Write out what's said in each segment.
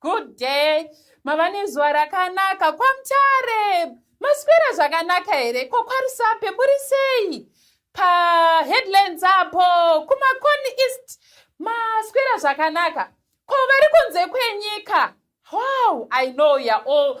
Good day. Mava nezuva rakanaka kwaMutare. Maswera zvakanaka here? Ko kwaRusape muri sei? PaHeadlands apo kuMakoni East maswera zvakanaka. Ko vari kunze kwenyika? Wow, I know you're all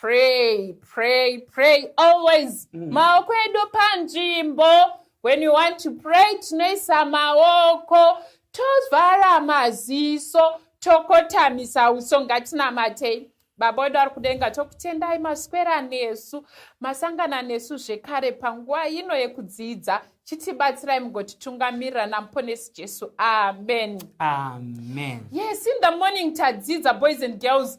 pray pray pray always mm. maoko edu panzvimbo when you want to pray tinoisa maoko tovhara maziso tokotamisa uso ngatinamatei baba wedu ari kudenga tokutendai maswera nesu masangana nesu zvekare panguva ino yekudzidza chitibatsirai mugotitungamirira namuponesi jesu amen amen yes in the morning tadzidza boys and girls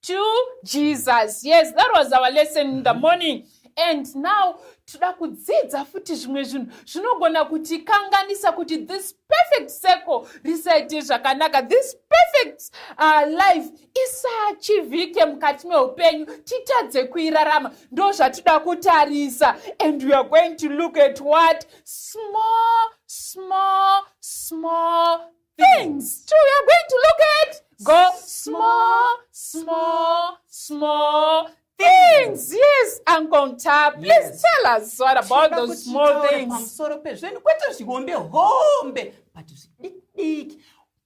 to jesus yes that was our lesson in the morning and now toda kudzidza futi zvimwe zvinhu zvinogona kutikanganisa kuti this perfect circle risaite zvakanaka this perfect uh, life isachivhike mukati meupenyu titadze kuirarama ndo zvatida kutarisa and weare going to look at what small small small things two you're going to look at go small small small things yes uncle ta please yes. tell us what about those small things pamusoro pezvinhu kwete zvihombe hombe but zvidikidiki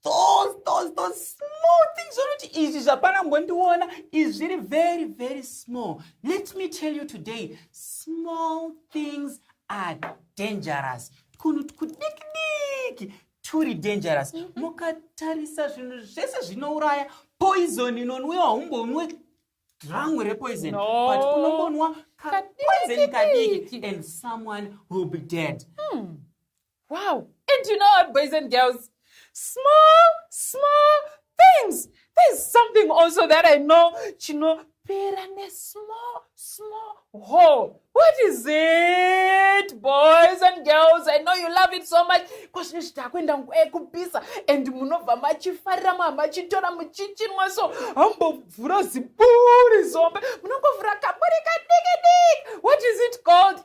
those those those small things zvokuti izvi zvapana mbondiona izvi zviri very very small let me tell you today small things are dangerous twunhu twudikidiki turi dangerous mm-hmm. mukatarisa zvinhu zvese zvinouraya poison inonwiwa umbonwe drangu repoison but unombonwa kapoison kadiki and someone will be dead hmm. wow and you know our boys and girls small small things there's something also that i know chinopera nesmall small hole what is it boys and girls i know you love it so much kwazvine zviti akuenda nguva yekupisa and munobva machifarira maa machitora muchichinwa so hambovhura ziburi zombe munongovhura kaburi kadiki diki what is it called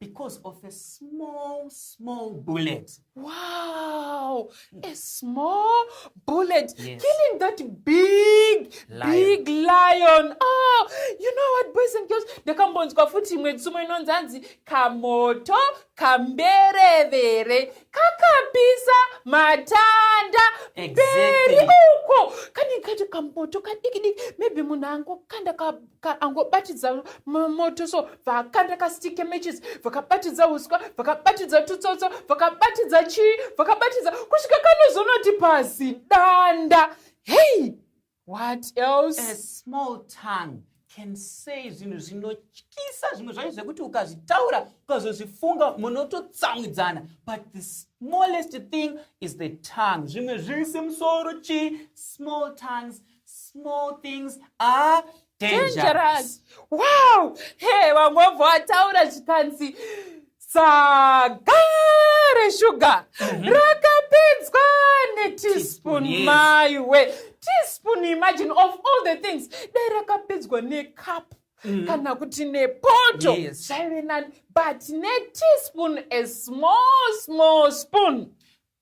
because of a small, small bullet. Wow, a small bullet yes. killing that big, lion. big lion. Oh, you know what, boys and girls, ndakambonzwa futi imwe tsumo inonzi hanzi kamoto kamberevere kakapisa matanda mberi uko kani kati kamoto kadikidiki maybe munhu angokanda angobatidza moto so vakakanda kastick matches vakabatidza uswa vakabatidza tutsotso vakabatidza chii vakabatidza kusvika kanozonoti pasi danda hey what else a small tongue can say zvinhu zvinotyisa zvimwe zvacho zvekuti ukazvitaura ukazozvifunga munototsamwidzana but the smallest thing is the tongue zvimwe zviri semusoro chii small tongues small things are dangerous, dangerous. wow hey wangobva wataura zvikanzi saga reshuga mm -hmm. rakapedzwa neteaspoon yes. maiwe teaspoon imagine of all the things dai rakapedzwa necup Mm. kana kuti nepoto zvaive yes. nani but neteaspoon a small small spoon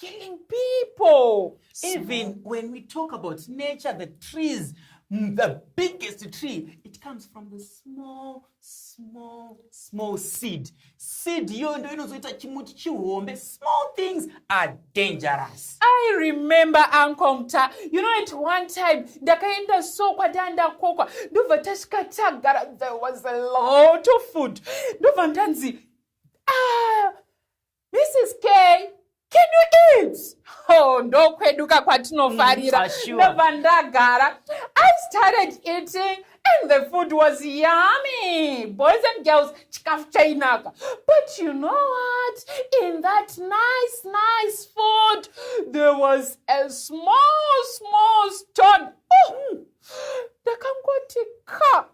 killing people even Small. when we talk about nature the trees mm, the biggest tree it comes from the small small small seed seed iyoyo ndo inozoita chimuti chihombe small things are dangerous i remember uncle mta you know at one time ndakaenda so kwadaa ndakokwa ndobva tasvika tagara there was a lot of food ndobva ndanzi ah Mrs K can you eat oh ndokweduka kwatinofarira mm, sure. ndobva ndagara i started eating and the food was yummy boys and girls chikafu chainaka but you know what in that nice nice food there was a small small stone oh, ndakangoti ka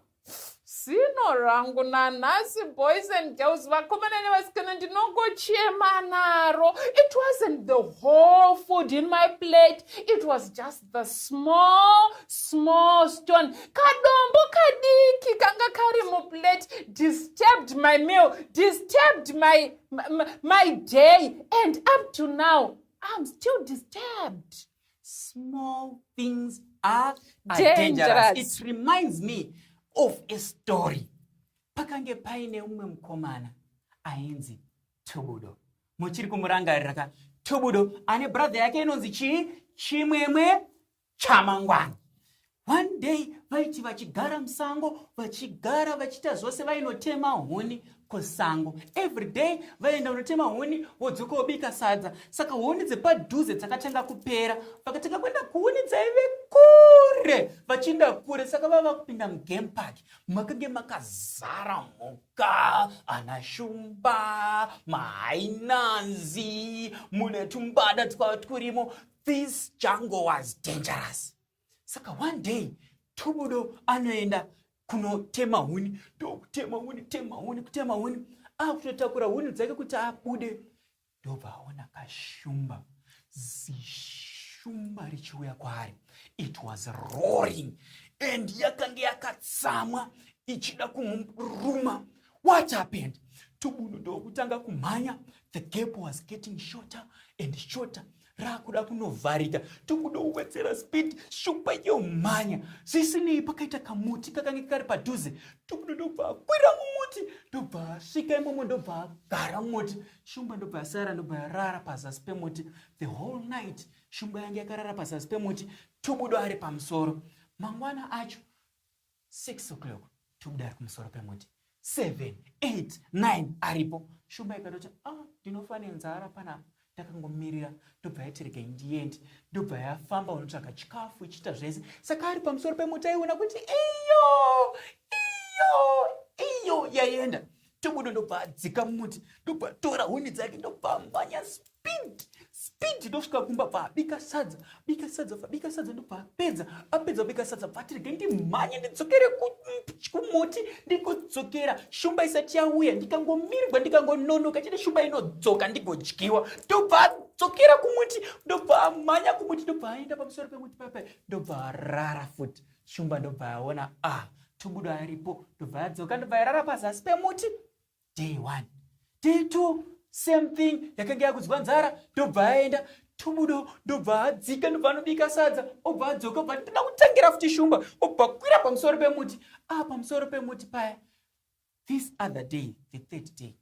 zino rangu nanhasi boys and girls vakomana nevasikana ndinongochema naro it wasn't the whole food in my plate it was just the small small stone kadombo kadiki kanga kari muplate disturbed my meal disturbed my, my, my day and up to now i'm still disturbed small things are dangerous it reminds me of a story pakange paine umwe mukomana ainzi tubudo muchiri kumurangarira ka tubudo ane brother yake inonzi chii chimwemwe chamangwana One day vaiti vachigara musango vachigara vachiita zvose vainotema huni kusango every day vaienda kunotema huni vodzoka wobika sadza saka huni dzepadhuze dzakatanga kupera vakatanga kuenda kuhuni dzaive kure vachienda kure saka vava kupinda mugame park makange makazara mhuka ana shumba mahainanzi mune tumbada twava twurimo this jungle was dangerous saka one day tubudo anoenda kunotema huni ndokutema huni tema huni kutema huni akutotakura huni dzake kuti abude ndobva aona kashumba zishumba richiuya kwaari it was roaring and yakange yakatsamwa ichida kumuruma what happened tubudo ndokutanga kumhanya the gap was getting shorter and shorter rakuda kunovharika tokuda kuwedzera speed shupa yomhanya zvisinei pakaita kamuti kakange kari padhuze tokuda ndobva akwira mumuti ndobva asvika imomo ndobva agara mumuti shumba ndobva asara ndobva yarara pazasi pemuti the whole night shumba yange yakarara pazasi pemuti tobudo ari pamusoro mangwana acho 6 o'clock tobuda ari kumusoro pemuti 7 8 9 aripo shumba ikatoti ah ndinofa nenzara panapa ndakangomirira ndobva yatirikei ndiendi ndobva yafamba unotsvaga chikafu ichiita zvese saka ari pamusoro pemuti aiona kuti iyo iyo iyo yaienda Tomodo ndobva adzika mumuti ndobva tora huni dzake ndobva manya speed speed ndosvika kumba bva abika sadza bika sadza bika sadza ndobva apedza apedza bika sadza bva tirege ndimhanye ndidzokere kumuti ndikudzokera shumba isati yauya ndikangomirwa ndikangononoka chete shumba inodzoka ndigodyiwa ndobva adzokera kumuti ndobva amhanya kumuti ndobva aenda pamusoro pemuti papai ndobva arara futi Shumba ndobva yaona ah Tubudo aripo ndobva yadzoka ndobva yarara pazasi pemuti day one day two same thing yakanga yakudzwa nzara ndobva yaenda tubudo ndobva adzika ndobva anobika sadza obva adzoka obva ndoda kutangira futi shumba obva kwira pamusoro pemuti ah pamusoro pemuti paya this other day the third day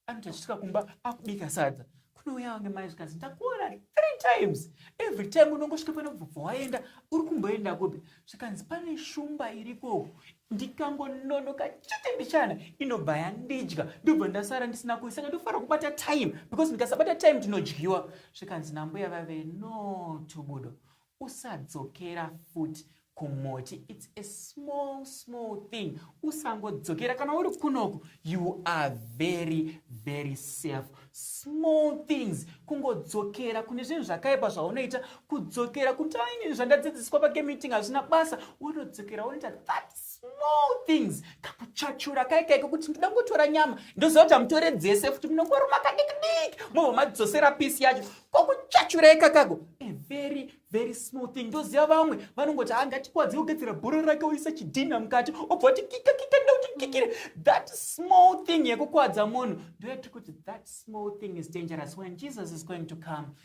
anoti achisvika kumba akubika sadza kunouya vange mai zvikanzi ndakuona three times every time unongosvika pano bvubva waenda uri kumboenda kupi zvikanzi pane shumba iriko ndikangononoka chete mbichana inobva yandidya ndobva ndasara ndisina kuisaka ndofanira kubata time because ndikasabata time tinodyiwa zvikanzi nambuya vave no tubudo usadzokera fut kumoti its a small small thing usangodzokera kana uri kunoku you are very very safe small things kungodzokera kune zvinhu zvakaipa zvaunoita kudzokera kuti aini zvandadzidziswa pakemeeting hazvina basa wotodzokera wonoita that small things kakuchachura kai kaiko kuti ndoda kungotora nyama ndoziva kuti hamutore dzese futi munongoruma kadikidiki mobva madzosera pisi yacho kokuchachura ikakago a very very small thing ndoziva vamwe vanongoti angatikwadzi ah, ogadzira bhora rake oisa chidhinha mukati obva kuti kika kika ndauti kikire that small thing yekukwadza munhu ndoyatiri kuti that small thing is dangerous when jesus is going to come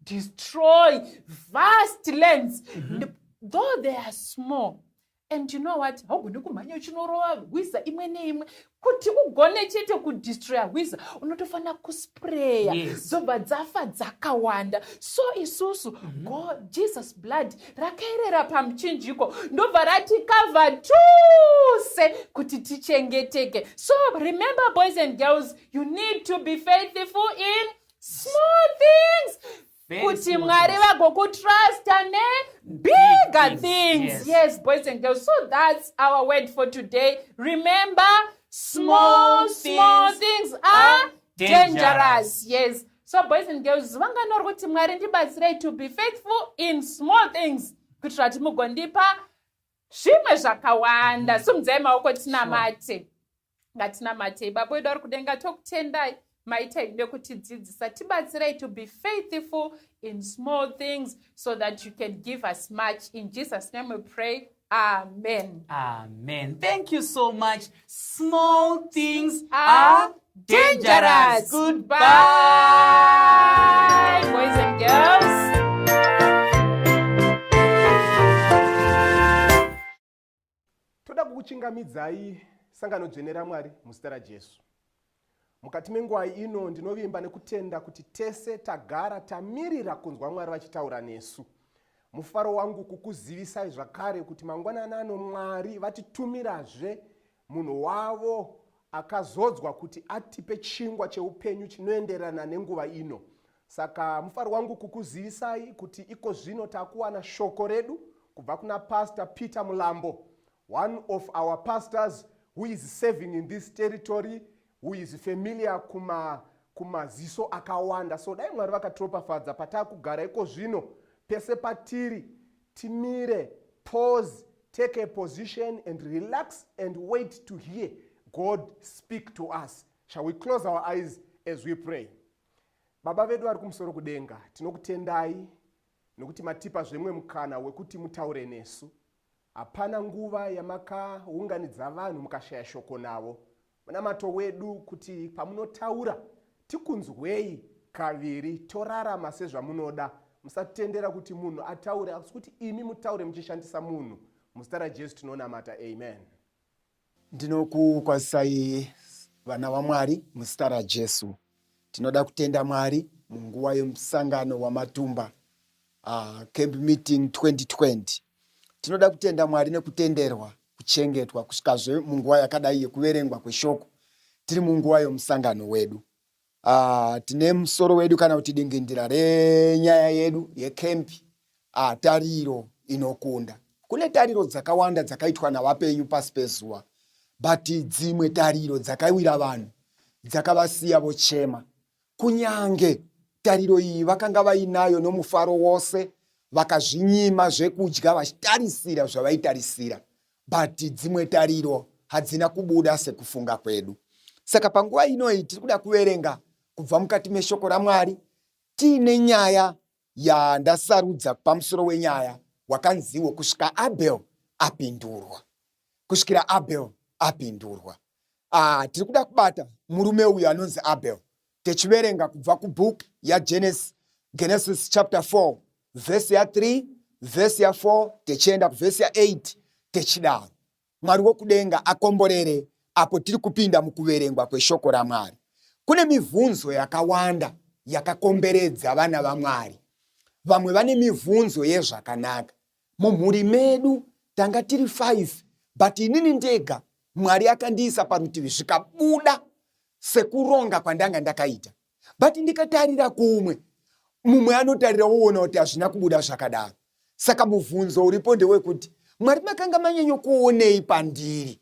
destroy vast lands mm -hmm. though they are small and you know what haugoni kumhanya uchinorova hwiza imwe neimwe kuti ugone chete kudestroya hwiza unotofanira kuspreya yes. dzobva dzafa dzakawanda so isusu mm -hmm. god jesus blood rakaerera pamuchinjiko ndobva ratikavha tose kuti tichengeteke so remember boys and girls you need to be faithful in small things kuti mwari vagokutrusta ne bigger things yes. yes boys and girls so that's our word for today remember small small things are dangerous yes so boys and girls vangani vari kuti mwari ndibatsirei to be faithful in small things kuitira kuti mugondipa zvimwe zvakawanda simudzai maoko tinamate sure. ngatinamatei baba wedu ari kudenga tokutendai maita ide kutidzidzisa tibatsirai to be faithful in small things so that you can give us much in jesus name we pray amen amen thank you so much small things are dangerous goodbye boys and girls Toda kukuchingamidzai sangano dzvene raMwari muzita raJesu. Mukati mengwai ino ndinovimba nekutenda kuti tese tagara tamirira kunzwa Mwari vachitaura nesu. Mufaro wangu kukuzivisai zvakare kuti mangwanani ano Mwari vatitumirazve Munhu wavo akazodzwa kuti atipe chingwa cheupenyu chinoenderana nenguva ino. Saka mufaro wangu kukuzivisai kuti iko zvino takuwana shoko redu kubva kuna Pastor Peter Mulambo, one of our pastors who is serving in this territory who is familiar kuma kumaziso akawanda so dai mwari vakatiropafadza pataakugara iko zvino pese patiri timire pause take a position and relax and wait to hear god speak to us shall we close our eyes as we pray baba vedu vari kumusoro kudenga tinokutendai nokuti matipa zvemwe mukana wekuti mutaure nesu Hapana nguva yamakaunganidza vanhu mukashaya shoko navo. Munamato wedu kuti pamunotaura tikunzwei kaviri torarama sezvamunoda. Musatendera kuti munhu ataure asi kuti imi mutaure muchishandisa munhu. Muzita raJesu tinonamata. Amen. Ndinokukwazisai vana vaMwari muzita raJesu. Tinoda kutenda Mwari munguva yemusangano wamatumba uh, camp meeting 2020. Tinoda kutenda Mwari nekutenderwa kuchengetwa kusvikazve munguva yakadai yekuverengwa kweshoko tiri munguva yomusangano wedu. Ah, tine musoro wedu kana kuti dingindira renyaya yedu yekempi ah, tariro inokunda kune tariro dzakawanda dzakaitwa navapenyu pasi pezuva but dzimwe tariro dzakawira vanhu dzakavasiya vochema kunyange tariro iyi vakanga vainayo nomufaro wose vakazvinyima zvekudya vachitarisira zvavaitarisira but dzimwe tariro hadzina kubuda sekufunga kwedu saka panguva inoyi tiri kuda kuverenga kubva mukati meshoko ramwari tiine nyaya yandasarudza pamusoro wenyaya wakanziwo kusvika abel apindurwa kusvikira abel apindurwa ah, tiri kuda kubata murume uyu anonzi abel techiverenga kubva kubook yagenesis genesis chapter 4 vhesi ya3 vhesi ya4 techienda kuvhesi ya8 techidaro mwari wokudenga akomborere apo tiri kupinda mukuverengwa kweshoko ramwari kune mivhunzo yakawanda yakakomberedza vana vamwari vamwe vane mivhunzo yezvakanaka Mumhuri medu tanga tiri five but inini ndega Mwari akandiisa parutivi zvikabuda sekuronga kwandanga ndakaita but ndikatarira kumwe mumwe anotarira woona kuti hazvina kubuda zvakadaro. Saka mubvunzo uripo ndewekuti Mwari makanga manyanyo kuonei pandiri?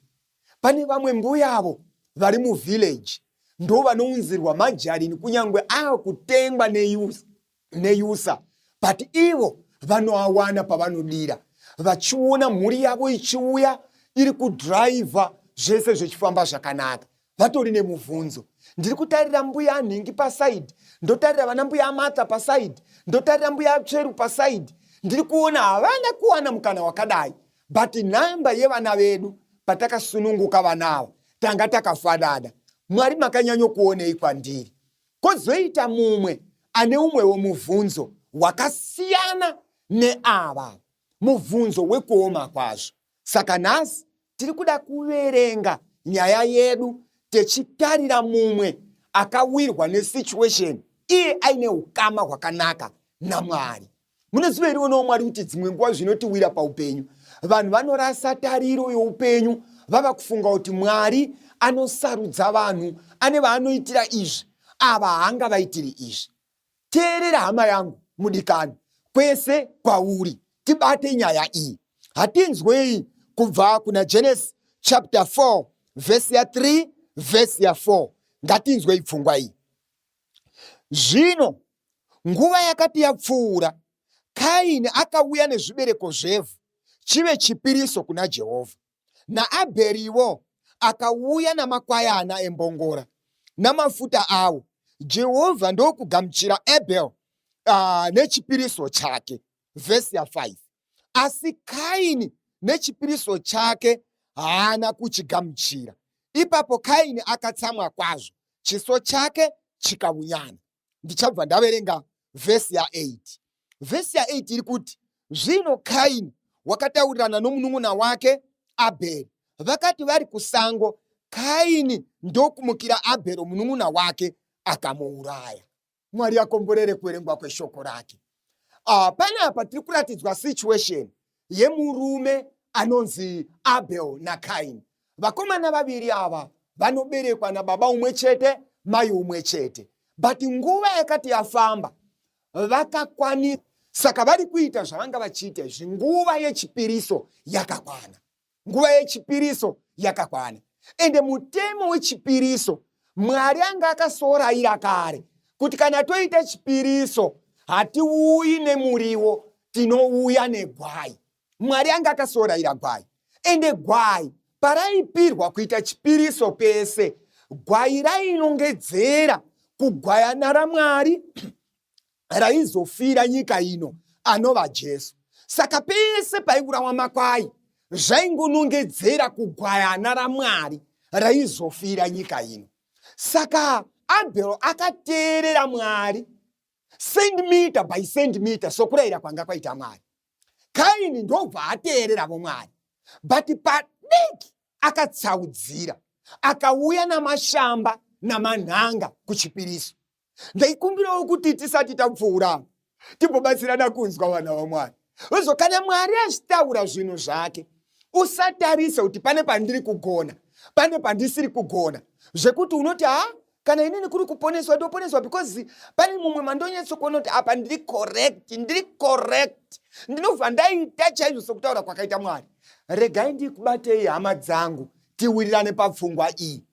Pane vamwe mbuyavo vari muvillage ndo vanounzirwa majarini kunyange akutengwa neyouth neyusa but ivo vanoawana pavanodira vachiona mhuri yavo ichiuya iri kudhiraivha zvese zvichifamba zvakanaka vatori nemubvunzo ndiri kutarira mbuya anhingi pasaidi ndotarira vana mbuya amata pasaidi ndotarira mbuya atsveru pasaidi ndiri kuona havana kuwana mukana wakadai but nhamba yevana vedu patakasununguka vana ava tanga takafanana mwari makanyanyokuonei kwandiri Kozoita mumwe ane umwewo mubvunzo wakasiyana neava, mubvunzo wekuoma kwazvo. Saka nhasi tiri kuda kuverenga nyaya yedu techitarira mumwe akawirwa nesituation iye aine ukama hwakanaka namwari Mune zuva irionawo Mwari kuti dzimwe nguva zvinotiwira paupenyu, vanhu vanorasa tariro youpenyu vava kufunga kuti Mwari anosarudza vanhu, ane vaanoitira izvi, ava haanga vaitiri izvi. Teerera hama yangu mudikani, kwese kwauri tibate nyaya iyi. Hatinzwei kubva kuna Genesis chapter 4 vhesi ya 3 vhesi ya 4 ngatinzwei pfungwa iyi. Zvino nguva yakati yapfuura, Kaini akauya nezvibereko zvevhu chive chipiriso kuna Jehovha, naAbheriwo akauya namakwayana embongora namafuta awo. Jehovha ndokugamuchira Abheri uh, nechipiriso chake. vhesi ya5 asi kaini nechipiriso chake haana kuchigamuchira ipapo kaini akatsamwa kwazvo chiso chake chikaunyana ndichabva ndaverenga vhesi ya8 vhesi ya8 iri kuti zvino kaini wakataurirana nomunun'una wake abheri vakati vari kusango kaini ndokumukira abhero munun'una wake akamuuraya Mwari akomborere kuverengwa kweshoko rake. Uh, panapa tiri kuratidzwa situation yemurume anonzi Abel naKaini. Vakomana vaviri ava vanoberekwa nababa umwe chete, mai umwe chete, but nguva yakati yafamba vakakwanisa, saka vari kuita zvavanga vachiita izvi nguva yechipiriso yakakwana. nguva yechipiriso yakakwana ende mutemo wechipiriso mwari anga akasoraira kare kuti kana toita chipiriso hatiuyi nemuriwo tinouya negwai mwari anga akasoraira gwai ende gwai paraipirwa kuita chipiriso pese gwai rainongedzera kugwayana ramwari raizofira nyika ino anova Jesu. Saka pese paiburawa makwai zvaingonongedzera kugwayana raMwari raizofira nyika ino. Saka Abel akateerera Mwari centimeter by centimeter sokurayira kwanga kwaita Mwari. Kaini ndobva ateereravo Mwari but padiki akatsaudzira akauya namashamba namanhanga kuchipiriso ndaikumbirawo kuti tisati tapfuura timbobatsirana kunzwa vana vamwari ozo kana mwari achitaura zvinhu zvake usatarisa kuti pane pandiri kugona pane pandisiri kugona zvekuti unoti ha kana inini kuri kuponeswa ndoponeswa because pane mumwe mandonyatsokuona kuti apa ndiri correct ndiri correct ndinobva ndaita chaizvo sokutaura kwakaita mwari regai ndikubatei hama dzangu tiwirirane papfungwa iyi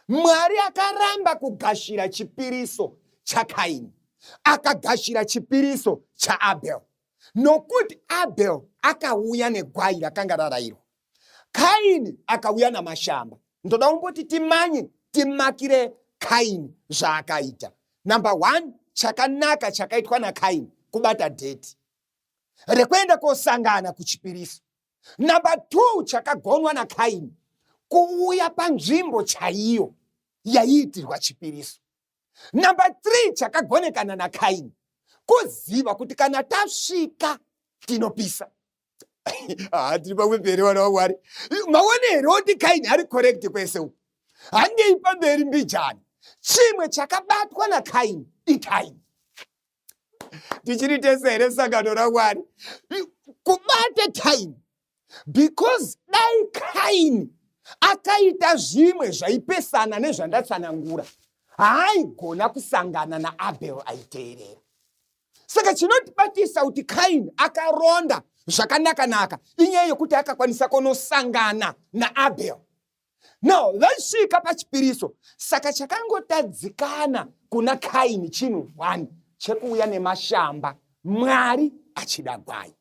Mwari akaramba kugashira chipiriso chaKaini, akagashira chipiriso chaAbel, nokuti Abel akauya negwai rakanga rarayirwa, Kaini akauya namashamba. Ndoda kumboti timanye timakire Kaini zvaakaita. Number one, chakanaka chakaitwa naKaini kubata dheti rekuenda kosangana kuchipiriso Number two chakagonwa naKaini kuuya panzvimbo chaiyo yaiitirwa chipiriso. Number three chakagonekana naKaini kuziva kuti kana tasvika tinopisa ah, tiri pamweperi vana vamwari maone here oti kaini ari correct kwese uku handei pamberi mbijani chimwe chakabatwa nakaini ikaini tichiri tese here sangano ramwari kubate kaini because dai kaini akaita zvimwe zvaipesana nezvandatsanangura haaigona kusangana naabel aiteerera saka chinotibatisa kuti kaini akaronda zvakanaka-naka inyaya yekuti akakwanisa kunosangana naabel now vaisvika pachipiriso saka chakangotadzikana kuna kaini chinhu one chekuuya nemashamba mwari achida gwai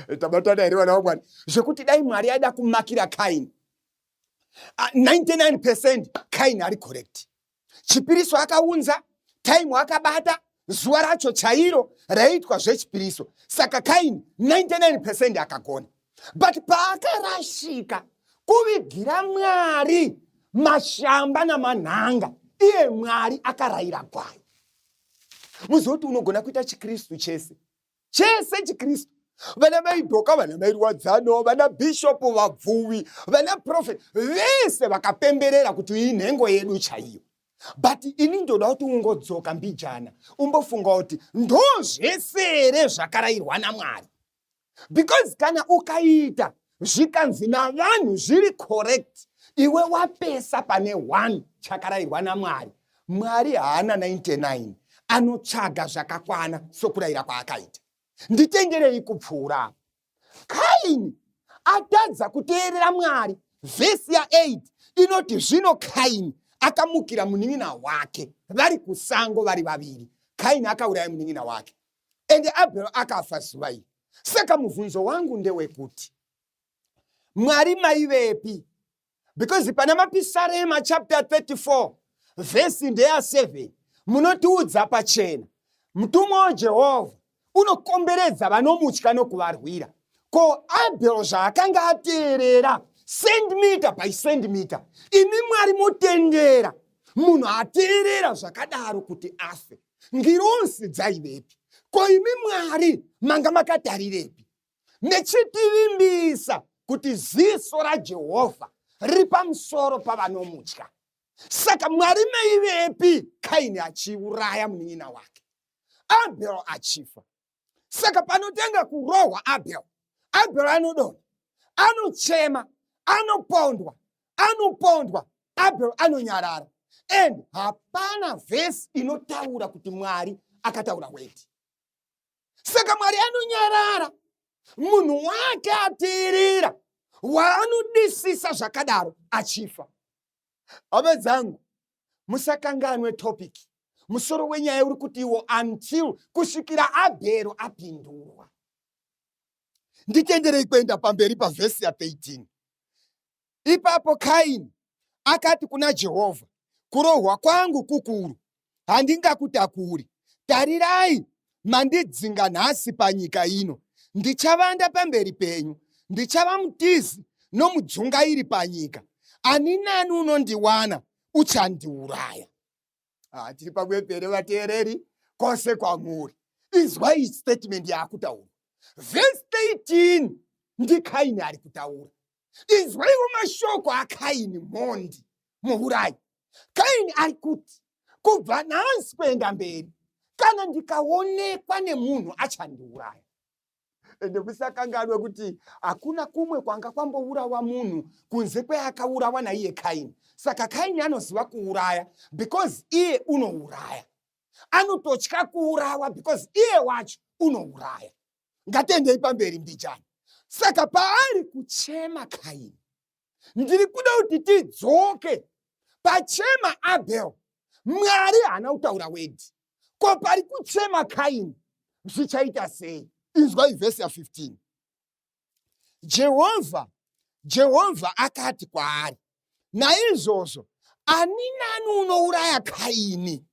eh, tabatana here vana vakwani zvekuti dai mwari aida kumakira kaini 99 ah, percent kaini ari correct chipiriso akaunza taimu akabata zuva racho chairo raiitwa zvechipiriso saka kaini 99 pecent akagona but paakarashika kuvigira mwari mashamba namanhanga iye mwari akarayira gwai muzoti unogona kuita chikristu chese chese chikristu vana mai dhoka vana mai rwadzano vana bhishopu vabvuvi vana profeti vese vakapemberera kuti iyi nhengo yedu chaiyo but ini ndoda kuti ungodzoka mbijana umbofunga kuti ndo zvese here zvakarayirwa namwari because kana ukaita zvikanzi navanhu zviri correct iwe wapesa pane 1 chakarayirwa namwari mwari haana 99 anotsvaga zvakakwana sokurayira kwaakaita nditengerei kupfuura kaini atadza kuteerera mwari vhesi ya8 inoti zvino kaini akamukira munin'ina wake vari kusango vari vaviri kaini akauraya munin'ina wake ende abhero akafa zuva iri saka mubvunzo wangu ndewekuti mwari maivepi because pana mapisarema chapter 34 vhesi ndeya 7 munotiudza pachena mutumwa wajehovha unokomberedza vanomutya nokuvarwira ko abhero zvaakanga ateerera sendimita by sendimita imi mwari motendera munhu ateerera zvakadaro kuti afe ngirozi dzaivepi ko imi mwari manga makatarirepi mechitivimbisa kuti ziso rajehovha riri pamusoro pavanomutya saka mwari maivepi kaini achiuraya munin'ina wake abel achifa saka panotanga kurohwa abel abel anodonha anochema anopondwa anopondwa abel anonyarara and hapana vhesi inotaura kuti mwari akataura weti saka mwari anonyarara munhu wake ateerera waanodisisa zvakadaro achifa hama dzangu musakanganwe topic musoro wenyaya uri kuti iwo until kusvikira abhero apindurwa nditenderei kuenda pamberi pavhesi ya 13 ipapo kaini akati kuna jehovha kurohwa kwangu kukuru handingakutakuri. Tarirai, mandidzinga nhasi panyika ino. Ndichavanda pamberi penyu, ndichava mutizi nomudzungairi panyika. Ani nani unondiwana uchandiuraya. Ah, tiri pamwepere vateereri kwose kwamuri. Izwai statement yaakutaura. Verse 13 ndikaini ari kutaura. inzwaiwo mashoko akaini mhondi muurayi kaini ari kuti kubva nhasi kuenda mberi kana ndikaonekwa nemunhu achandiuraya ende musakanganwe kuti hakuna kumwe kwanga kwambourawa munhu kunze kweakaurawa naiye kaini saka kaini anoziva kuuraya because iye unouraya anototya kuurawa because iye wacho unouraya ngatiendei pamberi mbijana saka paari kuchema kaini ndiri kuda kuti tidzoke pachema abel mwari haana kutaura wedi ko pari kuchema kaini zvichaita sei inzwa ivhesi ya 15 jehovha jehovha akati kwaari naizvozvo ani nani unouraya kaini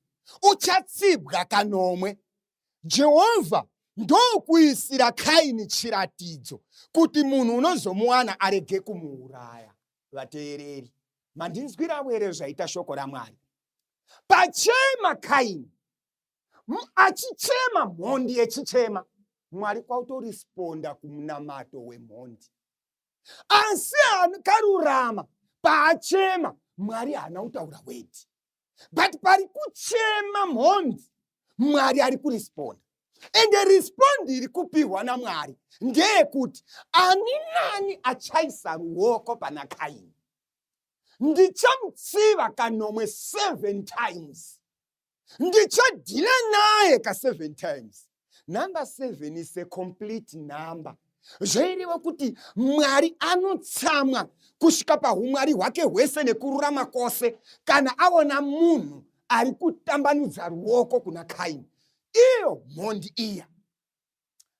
uchatsibwa kanomwe Jehovha ndokuisira Kaini chiratidzo kuti munhu unozomuwana arege kumuuraya. Vateereri, mandinzwiravo here zvaita shoko raMwari? Pachema Kaini achichema mhondi yechichema, Mwari kwautorisponda kumunamato wemhondi. Asi akarurama paachema, Mwari haana kutaura wedi. but pari kuchema mhondi mwari ari kuresponda ende respondi iri kupihwa namwari ndeyekuti ani nani achaisa ruoko pana kaini ndichamutsiva kanomwe seven times ndichadhila naye kaseven times number seven is a complete number zvaireva kuti mwari anotsamwa kusvika pahumwari hwake hwese nekururama kwose kana aona munhu ari kutambanudza ruoko kuna kaini iyo mhondi iya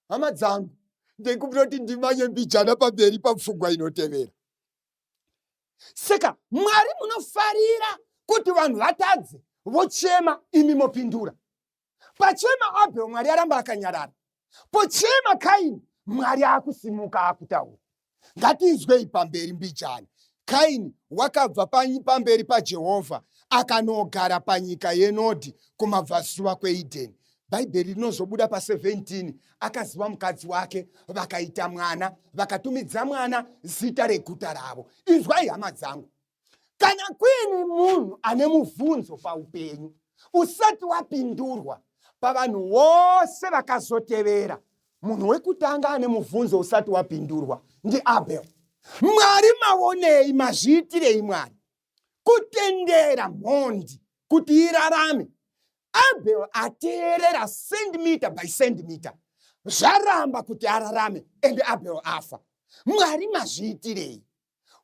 hama dzangu ndikubira kuti ndimanye mbijana pamberi papfungwa inotevera saka mwari munofarira kuti vanhu vatadze vochema imi mopindura Pachema Abel Mwari aramba akanyarara. Pochema Kaini Mwari akusimuka akutaura. Ngatizwei pamberi mbijana. Kaini wakabva pamberi paJehovha akanogara panyika yenodhi kumabvazuva kweEdheni. Bhaibheri rinozobuda pa17 akaziva mukadzi wake vakaita mwana vakatumidza mwana zita reguta ravo. Inzwai hama dzangu. kana kuine munhu ane mubvunzo paupenyu usati wapindurwa pavanhu vose vakazotevera munhu wekutanga ane mubvunzo usati wapindurwa ndiabel mwari mavonei mazviitirei mwari kutendera mhondi kuti irarame abel ateerera centimeter by centimeter zvaramba kuti ararame ende abel afa mwari mazviitirei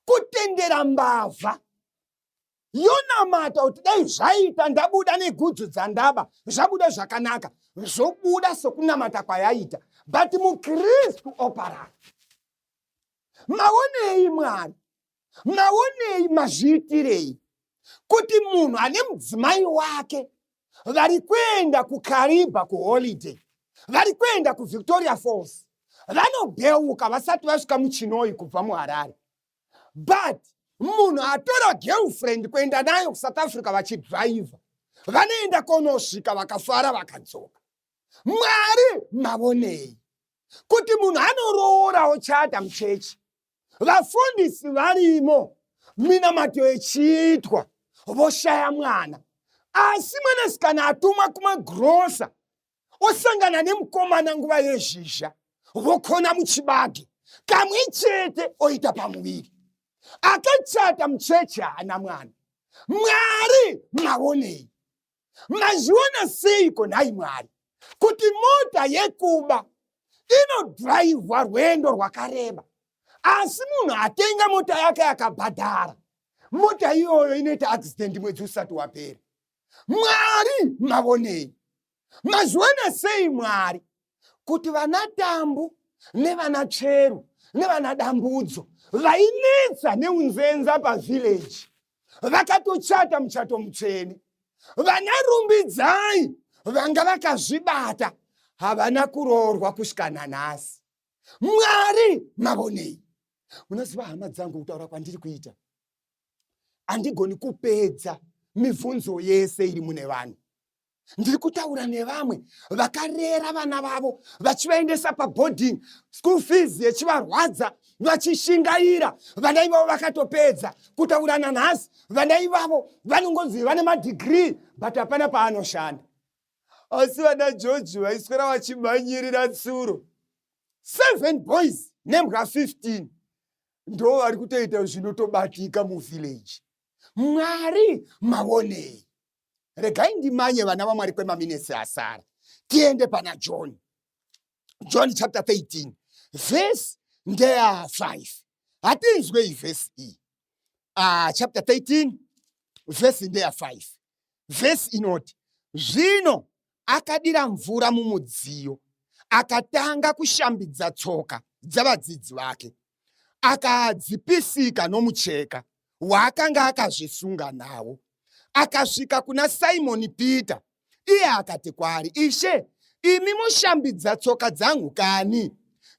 kutendera mbavha yonamata kuti dai zvaita ndabuda negudzu dzandaba zvabuda zvakanaka zvobuda sokunamata kwayaita but mukristu oparara maonei mwari maonei mazviitirei kuti munhu ane mudzimai wake vari kuenda kukariba kuholiday vari kuenda kuvictoria falls vanobheuka vasati vasvika muchinoi kubva muharare but munhu atora girlfriend kuenda nayo kusouth africa vachidriver vanoenda konosvika vakafara vakadzoka mwari mavonei kuti munhu anoroora ochata muchechi vafundisi varimo minamato yechiitwa voshaya mwana asi mwanasikana atumwa kumagrosa osangana nemukomana nguva yezhizha vokona muchibage kamwe chete oita pamuviri akachata mucheche haana mwana mwari mavonei mazviona seiko nhai mwari kuti mota yekuba inodhiraivhwa rwendo rwakareba asi munhu atenga mota yake akabhadhara mota iyoyo inoita accident mwedzi usati wapera mwari mavonei mazviona sei mwari kuti vana tambu nevana tsveru nevana dambudzo vainetsa neunzenza pavhileji vakatochata muchato mutsvene vana rumbidzai vanga vakazvibata havana kuroorwa kusvika nanhasi mwari mavonei munoziva hama dzangu kutaura kwandiri kuita handigoni kupedza mibvunzo yese iri mune vanhu ndiri kutaura nevamwe vakarera vana vavo vachivaendesa paboarding school fees yechivarwadza vachishingaira vana ivavo vakatopedza kutaura nanhasi vana ivavo vanongonzi vane madhigrii but hapana paanoshanda asi vana george vaiswera vachimhanyirira tsuro seven boys nembwa 15 ndo vari kutoita zvinotobatika muvhillaji mwari mavonei regai ndimanye vana vamwari kwemaminesi asara tiende pana john john chapter 13 vhesi ndeya 5 hatinzwe iyi vhesi iyi uh, chapter 13 vhesi ndeya 5 vhesi inoti zvino akadira mvura mumudziyo akatanga kushambidza tsoka dzavadzidzi vake akadzipisika nomucheka waakanga akazvisunga nawo akasvika kuna simoni peter iye akati kwaari ishe imi moshambidza tsoka dzangu kani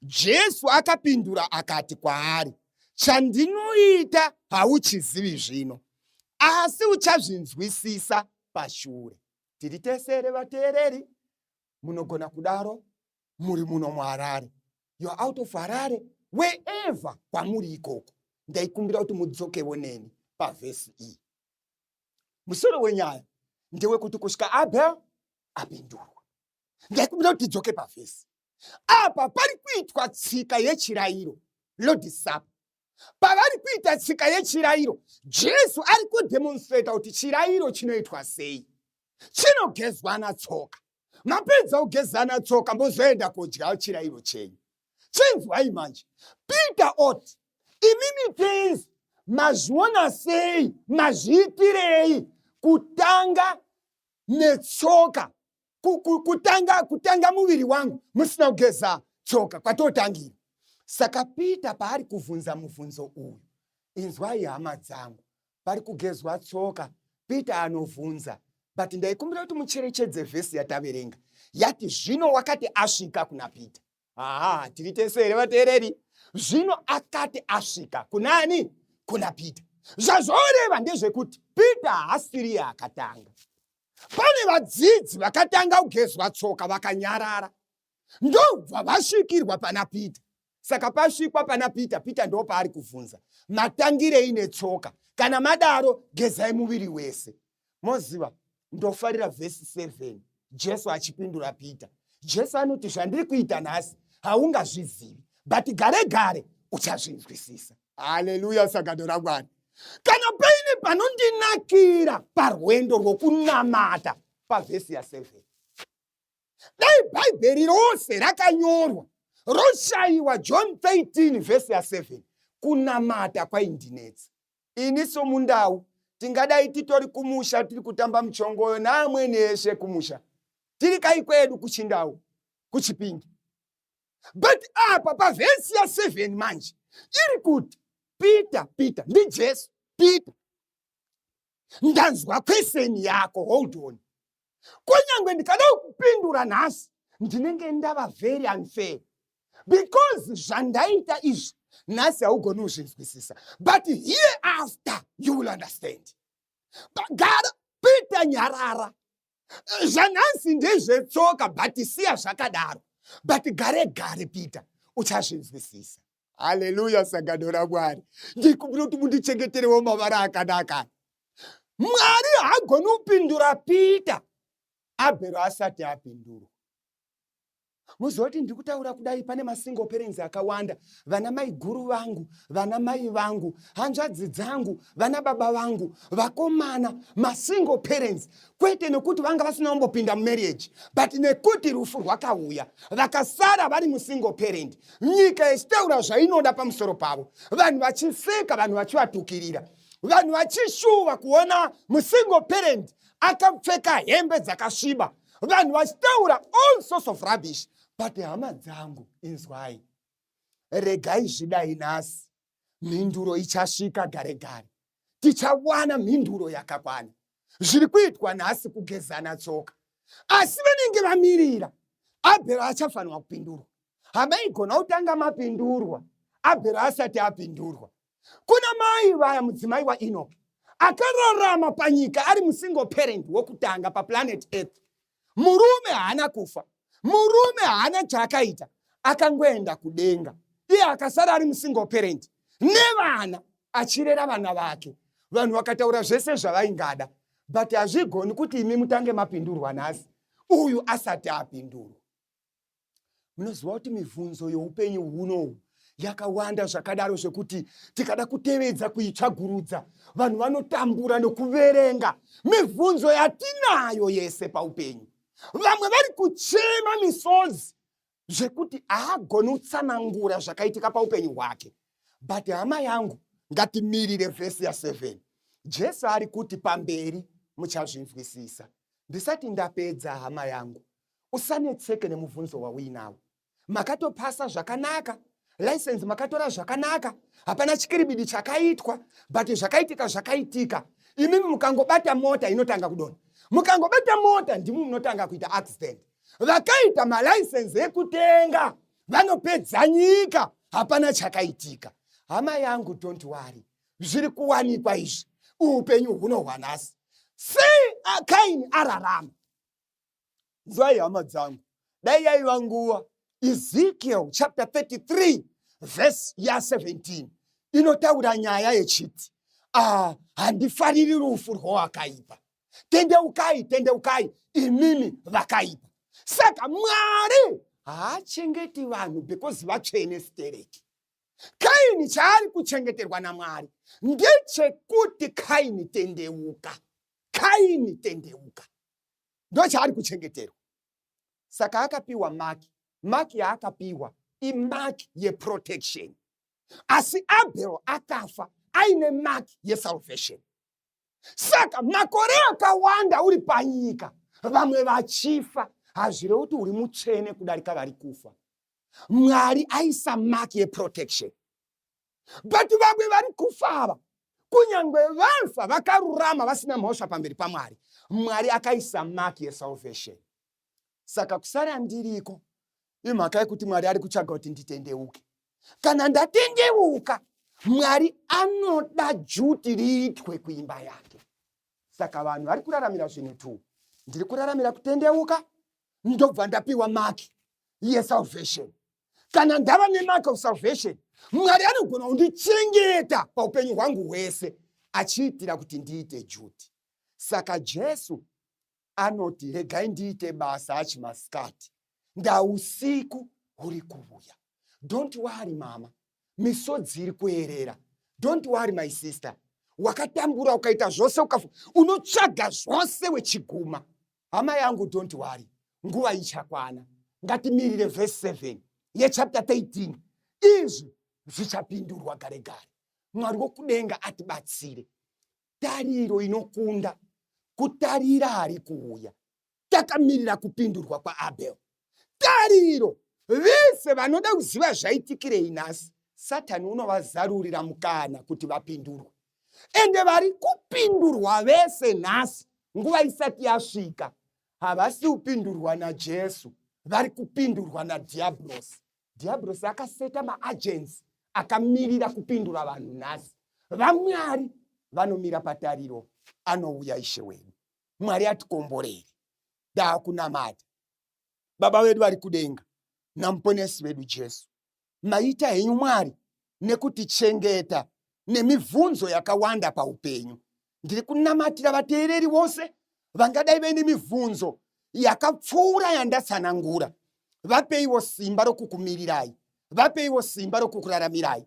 jesu akapindura akati kwaari chandinoita hauchizivi zvino asi uchazvinzwisisa pashure tiri tesere vateereri munogona kudaro muri muno muharare you're out of harare wherever kwamuri ikoko ndaikumbira kuti mudzokewo neni pavhesi iyi musoro wenyaya ndewekuti kusvika abel apindurwa ndaikumbira kuti tidzoke pavhesi apa pari kuitwa tsika yechirayiro lodisapa pavari kuita tsika yechirairo jesu ari kudemonstrata kuti chirairo chinoitwa sei chinogezwana tsoka mapedza kugezana tsoka mozoenda kodya chirairo chenyu chinzwai manje peter oti imimi tenzi mazviona sei mazviitirei kutanga netsoka kutanga kutanga muviri wangu musina kugeza tsoka kwatotangira saka peter paari kuvhunza muvhunzo uyu inzwai hama dzangu pari kugezwa tsoka peter anovhunza but ndaikumbira kuti mucherechedze vhesi yataverenga yati zvino wakati asvika kuna peter haa tiri tese here vateereri zvino akati asvika kunani kuna peter zvazvoreva ndezvekuti peter haasiriye akatanga pane vadzidzi vakatanga kugezwa tsoka vakanyarara ndobva vasvikirwa pana peter saka pasvikwa pana peter peter ndo paari kuvhunza matangirei netsoka kana madaro gezai muviri wese moziva ndofarira vhesi 7 jesu achipindura peter jesu anoti zvandiri kuita nhasi haungazvizivi but gare gare uchazvinzwisisa haleluya sagato ramwari kana paine panondinakira parwendo rwokunamata pavhesi ya7 dai bhaibheri rose rakanyorwa roshayiwa john 13 vhesi ya7 kunamata kwaindinetsa ini somundau tingadai titori kumusha tiri kutamba muchongoyo naamwene eshe kumusha tiri kai kwedu kuchindau kuchipingi but apa pavhesi ya 7 manje iri kuti peter peter ndijesu peter ndanzwa kweseni yako hold on kunyange ndikada kupindura nhasi ndinenge ndava very unfair because zvandaita izvi nhasi haugoni kuzvinzwisisa but here after you will understand pagara peter nyarara zvanhansi ndezvetsoka but siya zvakadaro but gare gare peter uchazvinzwisisa haleluya sangano ramwari ndikumbira kuti mundichengeterewo mavara akanaka mwari haagoni kupindura peter abhero asati apindurwa moziva kuti ndiri kutaura kudai pane masingle parents akawanda vana maiguru vangu vana mai vangu hanzvadzi dzangu vana baba vangu vakomana masingle parents kwete nekuti vanga vasina kumbopinda mumarriage but nekuti rufu rwakauya vakasara vari musingle parent nyika yechitaura zvainoda pamusoro pavo vanhu vachiseka vanhu vachivatukirira vanhu vachishuva kuona musingle parent akapfeka hembe dzakasviba vanhu vachitaura all sorts of rubbish but hama dzangu inzwai regai zvidai nhasi mhinduro ichasvika gare gare tichawana mhinduro yakakwana zviri kuitwa nhasi kugezana tsoka asi vanenge vamirira abhero achafanirwa kupindurwa hamaigona kutanga mapindurwa abhero asati apindurwa kuna mai vaya mudzimai waenoki akararama panyika ari musingle parent wokutanga paplanet earth murume haana kufa murume haana chaakaita akangoenda kudenga iye akasara ari musingle parent nevana achirera vana vake vanhu vakataura zvese zvavaingada but hazvigoni kuti imi mutange mapindurwa nhasi uyu asati apindurwa munoziva kuti mibvunzo youpenyu hunohu yakawanda zvakadaro zvekuti tikada kutevedza kuitsvagurudza vanhu vanotambura nokuverenga mibvunzo yatinayo yese paupenyu vamwe vari kuchema misodzi zvekuti haagoni kutsanangura zvakaitika paupenyu hwake but hama yangu ngatimirire vhesi ya7 jesu ari kuti pamberi muchazvinzwisisa ndisati ndapedza hama yangu usanetseke nemubvunzo wauinawo makatopasa zvakanaka license makatora zvakanaka hapana chikiribidi chakaitwa but zvakaitika zvakaitika imimi mukangobata mota inotanga kudona mukangobata mota ndimi munotanga kuita accident vakaita malicense ekutenga vanopedza nyika hapana chakaitika hama yangu don't worry zviri kuwanikwa izvi upenyu hunohwanasi sei akaini ararama nzwai hama dzangu dai yaiva nguva ezekiel chapter 33 vhesi ya 17 inotaura nyaya yechiti ah, handifariri rufu rwowakaipa tendeukai tendeukai imimi vakaipa saka mwari haachengeti vanhu because vatsvene stereki kaini chaari kuchengeterwa namwari ndechekuti kaini tendeuka kaini tendeuka ndochaari kuchengeterwa saka akapiwa maki maki yaakapiwa imaki yeprotection asi abel akafa aine maki yesalvation saka makore akawanda uri panyika vamwe vachifa hazvirevi kuti uri mutsvene kudarika vari kufa mwari aisa maki yeprotection but vamwe vari kufa ava kunyange vafa vakarurama vasina mhosva pamberi pamwari mwari akaisa mark yesalvation saka kusara ndiriko imhaka yekuti mwari ari kutsvaga kuti nditendeuke kana ndatendeuka mwari anoda juti riitwe kuimba yake saka vanhu vari kuraramira zvinhu two ndiri kuraramira kutendeuka ndobva ndapiwa maki yesalvation kana ndava nemark of salvation mwari anogona kundichengeta paupenyu hwangu hwese achiitira kuti ndiite juti saka jesu anoti regai ndiite basa achi masikati ndausiku huri kuvuya don't worry mama misodzi iri kuerera don't worry my sister wakatambura ukaita zvose unotsvaga zvose wechiguma hama yangu don't worry nguva ichakwana ngatimirire vhesi 7 yechapta 13 izvi zvichapindurwa gare gare mwari wokudenga atibatsire tariro inokunda kutarira hari kuuya takamirira kupindurwa kwaabel tariro vese vanoda kuziva zvaitikirei nhasi satani unovazarurira mukana kuti vapindurwe ende vari kupindurwa vese nhasi nguva isati yasvika havasi kupindurwa najesu vari kupindurwa nadhiabhurosi dhiyabhurosi akaseta maagensi akamirira kupindura vanhu nhasi vamwari vanomira patariro anouya ishe wenyu mwari atikomborere daakunamata baba vedu vari kudenga namuponesi vedu jesu maita henyu mwari nekutichengeta nemibvunzo yakawanda paupenyu ndiri kunamatira vateereri vose vangadai vaine mibvunzo yakapfuura yandatsanangura vapeiwo simba rokukumirirai vapeiwo simba rokukuraramirai